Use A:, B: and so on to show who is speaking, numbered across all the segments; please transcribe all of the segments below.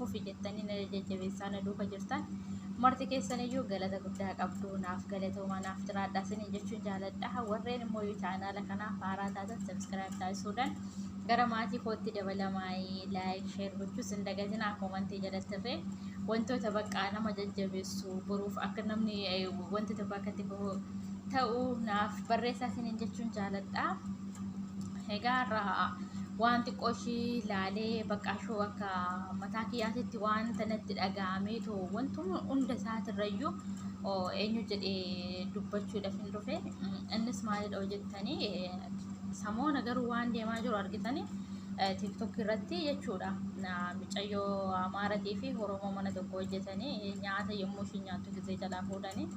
A: fufi jettanii na jajjabeessaa na duuka jirtan marti keessaniyyuu galata guddaa qabdu naaf galatoomaa naaf jiraadhaa isinii jechuun jaaladha warreen immoo yoo chaanaala kanaaf haaraa taatan sabskiraayib taasisuudhaan gara maatii kootti dabalamaa'ee laayik sheer gochuus hin dagatinaa koomantii jalatti irree wantoota baqqaa nama jajjabeessu boruuf akka namni wanti tokko akkatti ta'u naaf barreessaa isiniin jechuun jaaladha. Egaa irraa waan xiqqoo ishii laalee bakka ishoo akka mataa kiyyaatitti waan tanatti dhaga'amee too wantuma hunda isaatirrayyuu eenyu jedhee dubbachuudhaaf hin dhufe innis maalidha jettanii samoona garuu waan deemaa jiru argitanii tiktok irratti jechuudha micayyoo amaaratii fi oromoo mana tokko hojjetanii nyaata yommuu ishii nyaattu gisee jalaa fuudhanii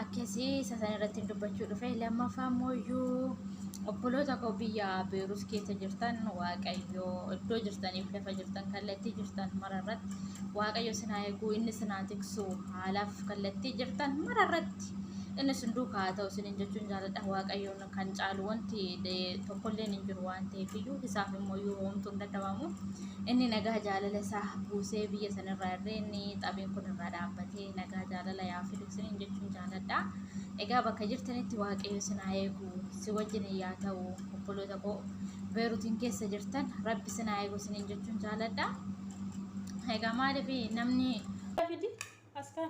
A: akkasii isa san irratti dubbachuu dhufe lammaffaa immoo iyyuu obboloota koo biyya beerus keessa jirtan waaqayyo iddoo jirtaniif lafa jirtan kallattii jirtan mara irratti waaqayyo sin haa eeguu inni sin haa tiksu haalaaf kallattii jirtan mara irratti inni sin duukaa haa ta'u sin hin jechuun jaaladha waaqayyoon kan caalu wanti tokkolleen hin jiru waan ta'eef iyyuu isaaf immoo yoo homtuu hin dadhabamu inni nagaa jaalala isaa buusee biyya sanarraa irree inni xabiin kun irraa dhaabbatee nagaa jaalala yaa fidu isiniin jechuun jaaladha. Egaa bakka jirtanitti waaqayyo isin haa eegu si wajjin yaa ta'u obboloota koo beerutiin keessa jirtan rabbi isin haa eegu isiniin jechuun jaaladha. Egaa maaliif namni. Fidi askaa.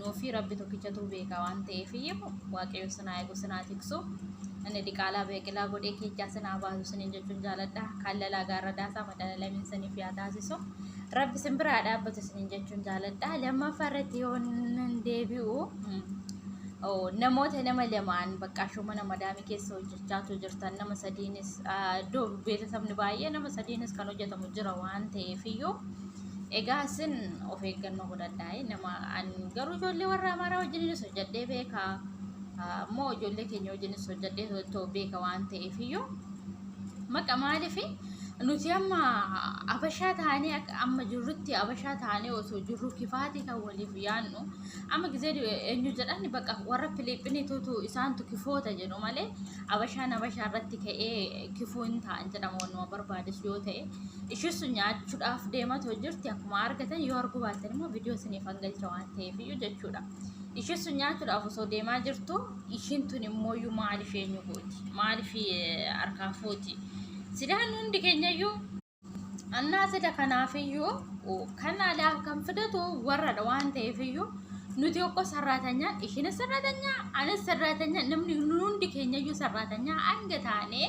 A: nuufi rabbi tokkichatuu beekaa waan ta'eefiyyu waaqayyo sinaa eegu sinaa tiksu inni diqaalaa beeqilaa godhee keechaa sinaa baasu sinin jechuun jaaladha kaallalaa gaarra daasaa madalalamin siniif yaa taasisu rabbi sin biraa dhaabbatu sinin jechuun jaaladha lammaffaa irratti yoo nan deebi'u namoota nama lamaan bakka ashoo mana madaamii keessa hojjechaatu jirtan nama sadiinis iddoo beeksisni baay'ee nama sadiinis kan hojjetamu jira waan ta'eefiyyuu Egaa isin of eeggannoo godhadhaa eh, nama an garuu ijoollee warra amaaraa wajjininis hojjedhee beeka Ah, immoo ijoollee keenya wajjinis hojjedhee too beeka waan ta'eef iyyuu maqa maaliif nuti amma abashaa taanee akka amma jirrutti abashaa taanee osoo jirru kifaatii kan waliif yaannu amma gizee du- eenyu jedhan bakka warra filiippinii tuutu isaantu kifoota jedhu malee abashaan abashaa irratti ka'ee kifuu hin ta'an jedhama wanuma barbaades yoo ta'e Ishii sun nyaachuudhaaf deematoo jirti akkuma argatan yoo arguu baatan immoo viidiyoo isiniif hangalcha waan ta'eef iyyuu jechuudha. Ishii sun nyaachuudhaaf osoo deemaa jirtu ishiin tun immoo iyyuu maaliif eenyu gooti? Maaliif harkaa fuuti? Sidaan hundi keenya iyyuu annaa sida kanaaf iyyuu kan alaa kan fidatu warradha waan ta'eef iyyuu nuti tokko sarraatanya ishiin sarraatanya anis sarraatanya namni hundi keenya iyyuu sarraatanya hanga taanee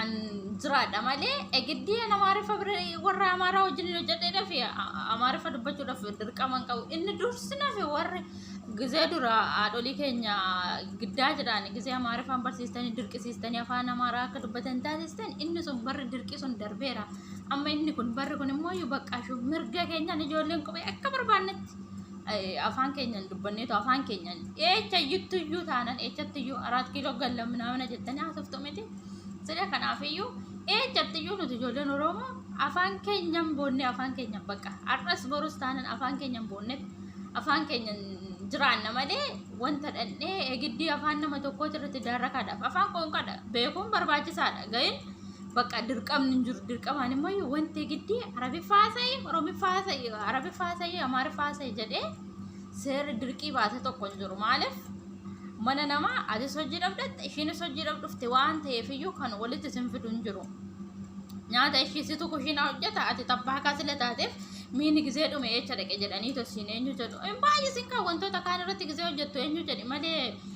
A: an jiraadha malee egiddii an amaariffa bira warra amaaraa wajjin hin hojjedheedhaaf amaariffa dubbachuudhaaf dirqama hin qabu inni dursinaaf warri gizee dura haadholii keenya giddaa jedhaan gizee amaariffaan barsiistanii dirqisiistanii afaan amaaraa akka dubbatan taasistan inni sun barri dirqii sun darbeera amma inni kun barri kun immoo baqqaashu mirga keenyaan ijoolleen qubee akka barbaannetti afaan keenyan dubbanneetu afaan keenyan eecha iyyuttu iyyuu taanan eechatti iyyuu araat kiiloo galla minaamina jettanii haasoftu miti sila kanaaf iyyuu eechatti iyyuu nuti ijoolleen oromoo afaan keenyan boonnee afaan keenyan baqa har'as borus taanan afaan keenyan boonneef afaan keenyan jiraanna malee wanta dhandhee egiddii afaan nama tokkooti irratti daarrakaadhaaf afaan qoonqadha beekuun barbaachisaadha ga'in Bakka dirqamni hin jiru. Dirqamaan immoo iyyuu wanti giddii Arabiffaa haasa'e, Oromiffaa haasa'e, Arabiffaa haasa'e, Amaariffaa haasa'e jedhee seerri dirqii baase tokko hin jiru. Maaliif? Mana namaa atis hojii dhabdatta, ishiinis hojii dhabdufte waan ta'eef iyyuu kan walitti isin fidu hin jiru. Nyaata ishii situ kushiinaa hojjeta, ati tabbaa kaa sila taateef miini gizee dhume eecha dhaqe jedhanii tosiin eenyu jedhu. Hin baay'isin kan wantoota kaan irratti gizee hojjettu eenyu jedhi malee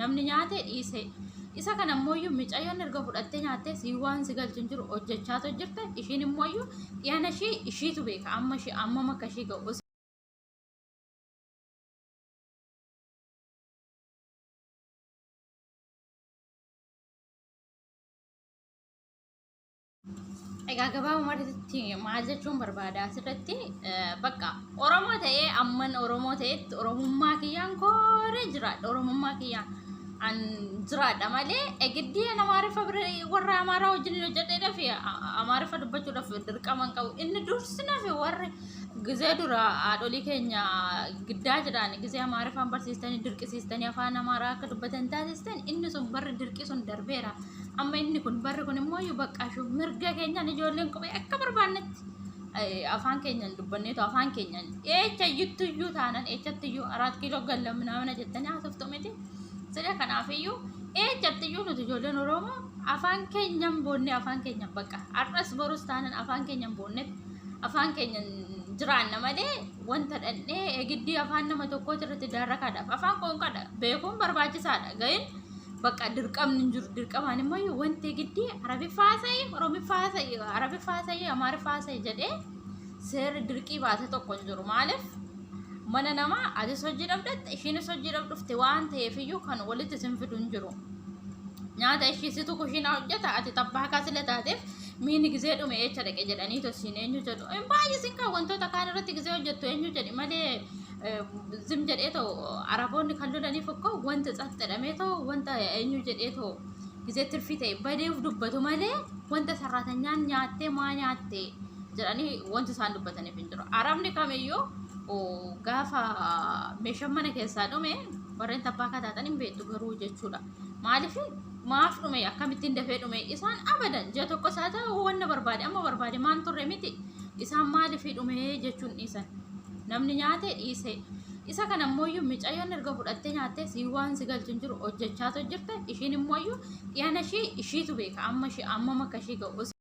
A: Namni nyaate dhiise. Isa kana immoo micayyoon erga fudhattee nyaattee sii waan si galchu hin jiru hojjechaa too jirte ishiin immoo dhiyana ishii ishiitu beeka amma ishii ammam akka ishii ga'u. Egaa gabaabumatti maal jechuun barbaada asirratti bakka Oromoo ta'ee amman Oromoo ta'etti Oromummaa kiyyaan kooree jiraadha Oromummaa kiyyaan an jiraadha malee egiddii Amaariffa bira warra Amaaraa wajjin hojjedheedhaaf Amaariffa dubbachuudhaaf dirqama hin qabu inni dursinaaf warri gizee dura haadholii keenya giddaa jedhaan gizee Amaariffaan barsiistanii dirqisiistanii afaan Amaaraa akka dubbatan taasistan inni sun barri dirqii sun darbeera. Amma inni kun barri kun immoo iyyuu baqqaashu mirga keenyaan ijoolleen kophee akka barbaannetti eh, afaan keenyaan dubbanneetu afaan keenyaan eecha iyyuttu iyyuu taanan eechatti iyyuu araat kiiloo galla minaamina jettanii haasoftu miti. Sida kanaaf iyyuu eechatti iyyuu nuti ijoolleen Oromoo afaan keenyaan boonnee afaan keenyaan bakka har'as borus taanan afaan keenyaan boonnee afaan keenyaan jiraanna malee wanta dhandhee egiddii afaan nama tokkooti irratti daarrakaadhaaf afaan qoonqadha beekuun barbaachisaadha ga'in Bakka dirqamni hin jiru. Dirqamaan immoo yoo wanti giddii Arabiffaa haasa'e, Oromiffaa haasa'e, Arabiffaa haasa'e, Amaariffaa haasa'e jedhee seerri dirqii baase tokko hin jiru. Maaliif? Mana namaa atis hojii dhabdatta, ishiinis hojii dhabdufte waan ta'eef iyyuu kan walitti isin fidu hin jiru. Nyaata ishii situ kushiinaa hojjeta, ati tabbaa kaasila taateef miini gizee dhume eecha dhaqe jedhanii tosiin eenyu jedhu. Hin baay'isin kan wantoota kaan irratti gizee hojjettu eenyu jedhi malee ዝም jedhee ta'u araboonni kan lolaniif እኮ wanta ጸጥ jedhamee ta'u wanta eenyu jedhee ta'u gisee tirfii ta'e badeef dubbatu malee wanta sarratanyaan nyaattee maa nyaatte jedhanii wanti isaan dubbataniif hin jiru. Arabni kamiyyuu gaafa meeshaan mana keessaa dhume warreen tabbaa akka taatan hin beektu garuu jechuudha. Maaliif maaf dhume akkamittiin dafee dhume isaan abadan ji'a tokko isaa ta'u wanna barbaade amma barbaade maan turre miti isaan maaliif dhume jechuun dhiisan. Namni nyaate dhiise. Isa kana immoo iyyuu micayyoon erga fudhattee nyaattee sii waan si galchu hin jiru hojjechaatu jirte. Ishiin immoo iyyuu dhiyana ishii ishiitu beeka amma ishii ammam akka ishii ga'u.